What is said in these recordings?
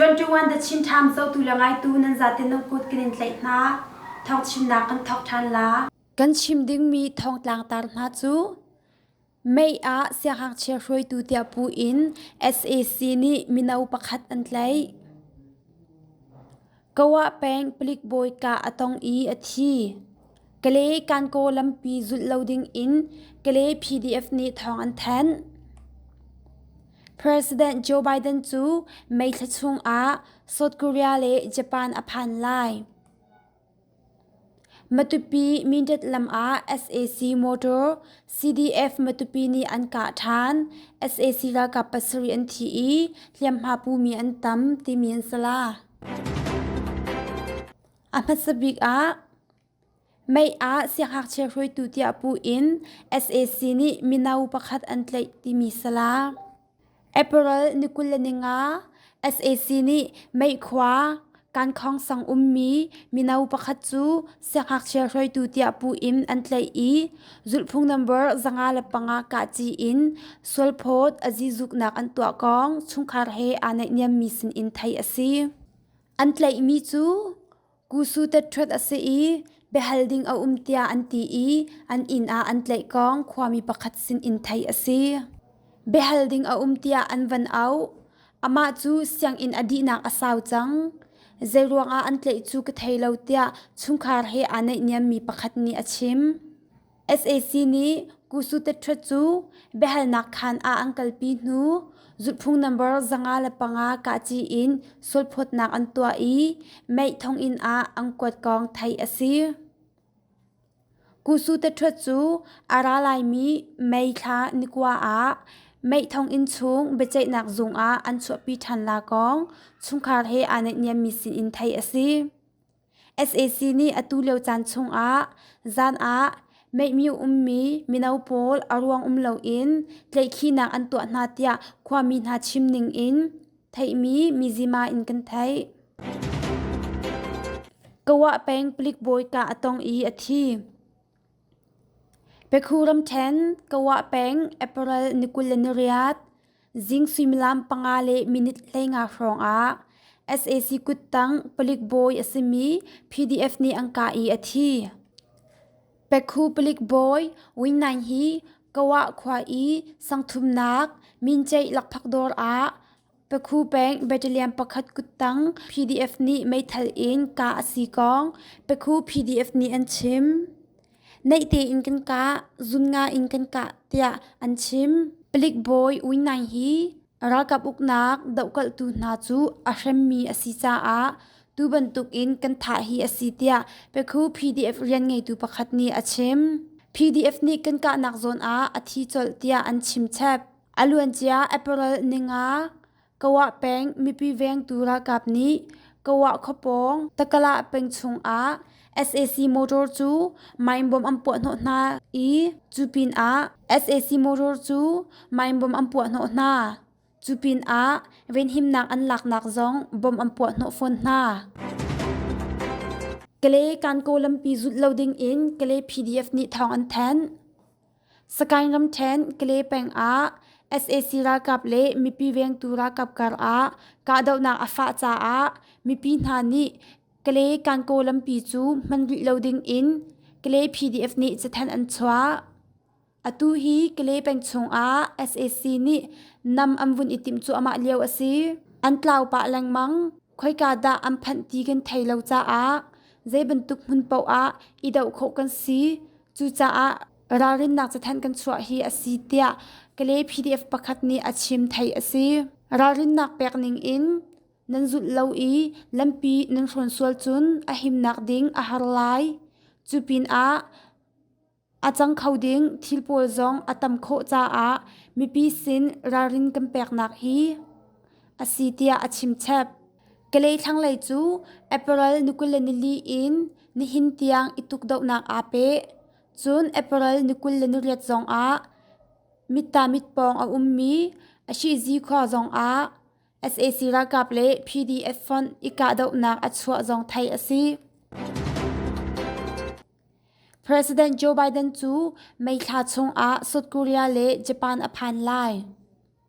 21 the Chin Times zotu le ngaitu nan zaten nan kut kan in tlaih hna thong chimnak kan thok ṭhan la kan chim dingmi thong tlangtar hna cu Mei ah siangngakchia hruaitu tiah puh in sac nih mino pakhat an tlaih. Goa peng palik bawi kah a tong i a thi. Kale Kankaw lampi zulh lo ding in Kale PDF nih thawng an thanh. President Joe Biden cu May thla chung ah South Korea le Japan a phan lai. Matupi Mindat lam ah sac motor CDF Matupi nih an kah ṭhan. sac ralkap pasarih an thi i hliamhma pumi an tam timi an sala. A hmasa bik ah Mei ah sianghngakchia hruaitu tiah puh in sac nih mino pakhat an tlaih timi sala. April ni kul le ni nga sac nih meikhua kankhawngsang ummi mino pakhat cu siangngakchia hruaitu tiah puh in an tlaih i zulhphung nambar zanga le panga kahci in sualphawt a zizuknak an tuah kong chungkhar he aa naihniammi sinin theih a si. An tlaihmi cu Kusu tet-ṭhuat a si i biahal ding a um tiah an ti i an inn ah an tlaihkong khuami pakhat sin in theih a si. Biahal ding a um tiah an van auh. Amah cu sianginn a dihnak a sau cang. Zeiruangah an tlaih cu ka thei lo tiah chungkhar he aa naihniammi pakhat nih a chim. sac nih kusu teṭhrat cu biahalnak khaan ah an kalpi hnu zulhphung nambar zanga le panga kahci in sualphawtnak an tuah i meih thonginn ah an kuat kong theih a si. Kusu teṭhrat cu a ra laimi May thla nikua ah meih thonginn chung biaceihnak zung ah an chuahpi ṭhan la kong chungkhar he aa naihniammi sinin theih a si. sac nih atu lio caan chungah zan ah meihmi ummi mino pawl a ruang um loin tleihkhinak an tuah hna tiah khuami hna chim ningin theihmi mizima in kan theih. Goa peng palik bawi kah a tong i a thi. Pekhu ramṭhen Goa peng April ni kul le ni riat zing suimilam panga le minute hleinga hrawngah sac kuttang palik bawi a simi PDF nih an kah i a thi. Pekhu palik bawi Win Naing hi Goa khua i sangthumnak minceih lakphakdawr ah Pakhu peng Battalion pakhat kuttang PDF nih meithal in kah a si kong pakhu PDF nih an chim. Neih tein kan kah, zun nga in kan kah tiah an chim. Palik bawi Ui Nang hi ralkap uknak dohkalhtu hna cu a hremmi a si caah tu bantukin kan thah hi a si tiah pakhu PDF rianngeitu pakhat nih a chim. PDF nih kan kahnak zawn ah a thi colh tiah an chimchep. A luancia April ninga Kawa peng mipi vengtu ralkap nih Kawa khuapawng Takala peng chungah sac motor cu meinbom an puahhnawh hna i cu pinah sac motor cu meinbom an puahhnawh hna. Cu pinah venhimnak an laknak zong bom an puahhnawh fawn hna. Kale Kankaw lampi zulh lo dingin Kale PDF nih thawng an thanh. Sagaing ramṭhen Kalay peng ah sac ralkap le mipi vengtu ralkap karah kahdohnak a fah caah mipi hna nih Kalay Kankaw lampi cu hman rih lo dingin Kalay PDF nih cathanh an chuah. Atu hi Kalay peng chungah sac nih nam an vun i timh cuahmah lio a si. An tlau pah lengmang. Khoika dah an phanh ti kan thei lo caah zeibantuk hmun paoh ah i doh khawh kan si. Cucaah ralrinnak cathanh kan chuah hi a si tiah Kalay PDF pakhat nih a chim thei a si. Ralrinnak pek ning in nan zulh lo i lampi nan hrawn sual cun a himnak ding a har lai. Cu pinah a cang kho ding thil pawl zong a tam khawh caah mipi sin ralrin kan peknak hi a si tiah a chimchep. Kalay thlanglei cu April ni kul le nili in nihin tiang i tukdohnak aa peh. Cun April ni kul le niriat zongah mittaamit pawng a ummi a shihzi khua zongah sac ralkap le PDF fonh i kahdohnak a chuah zong theih a si. President Joe Biden cu May thla chungah South Korea le Japan a phan lai.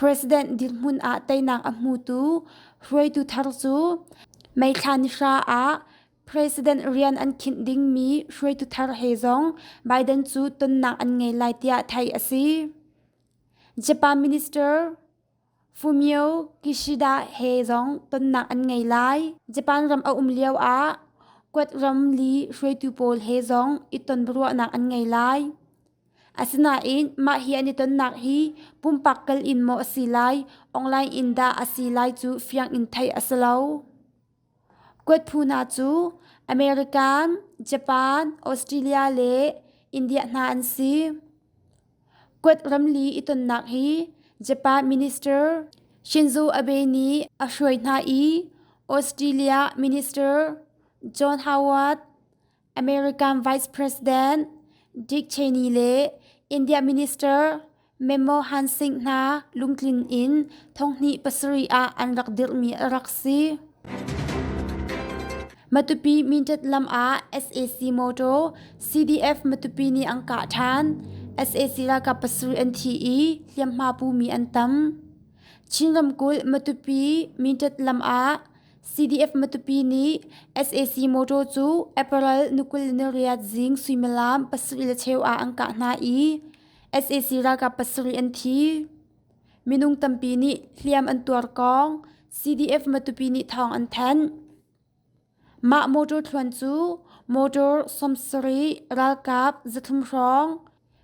President dirhmun ah teinak a hmutu hruaitu thar cu meithla nihra ah president rian an khinh dingmi hruaitu thar he zong Biden cu tonnak an ngei lai tiah theih a si. Japan Minister Fumio Kishida he zong tonnak an ngei lai. Japan ram a um lio ah Quad ram li hruaitu pawl he zong i tonruahnak an ngei lai. Asinain mah hi an i tonnak hi pumpak kal in maw a si lai, online in dah a si lai cu fiang in theih a si lo. Kuat phu hna cu American, Japan, Australia le India hna an si. Kuat ramli i tonnak hi Japan Minister Shinzo Abe nih a hruai hna i Australia Minister John Howard, American Vice President Dick Cheney le India Minister Manmohan Han Singh hna lungtlin in thonghni pasarih ah an rak dirhmi a rak si. Matupi Mindat lam ah SAC motor CDF Matupi nih an kah ṭhan. SAC ralkap pasarih an thi i hliamhma pumi an tam. Chin ramkulh Matupi Mindat lam ah CDF Matupi nih sac motor cu April ni kul ni riat zing suimilam pasarih le cheu ah an kah hna i sac ralkap pasarih an thi. Minung tampi nih hliam an tuar kong CDF Matupi nih thawng an thanh. Mah motor thluan cu motor sawmsarih ralkap zathlum hrawng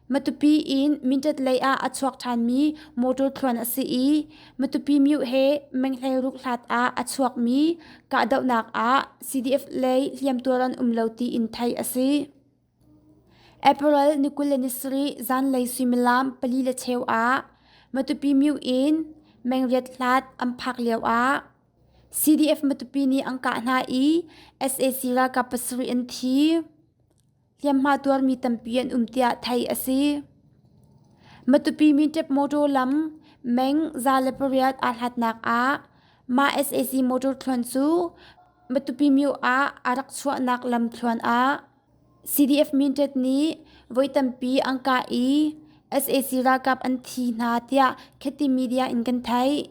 Matupi in Mindat lei ah a chuak ṭhanmi motor thluan a si i Matupi myu he Menghlei rukhlat ah a chuakmi kahdohnak ah CDF lei hliamtuar an um lo tiin theih a si. April ni kul le ni sarih zanlei suimilam pali le cheu ah Matupi myu in mengriat hlat an phak lio ah CDF Matupi nih an kah hna i sac ralkap pasarih an thi. hliamhma tuarmi tampi an um tiah theih a si. Matupi-mi ṭep motor lam meng za le pariat aa hlatnak ah mah sac motor thluan cu Matupi-myo ah a rak chuahnak lam thluan ah CDF-Mintet nih voi tampi an kah i sac ralkap an thi hna tiah kheti media in kan theih.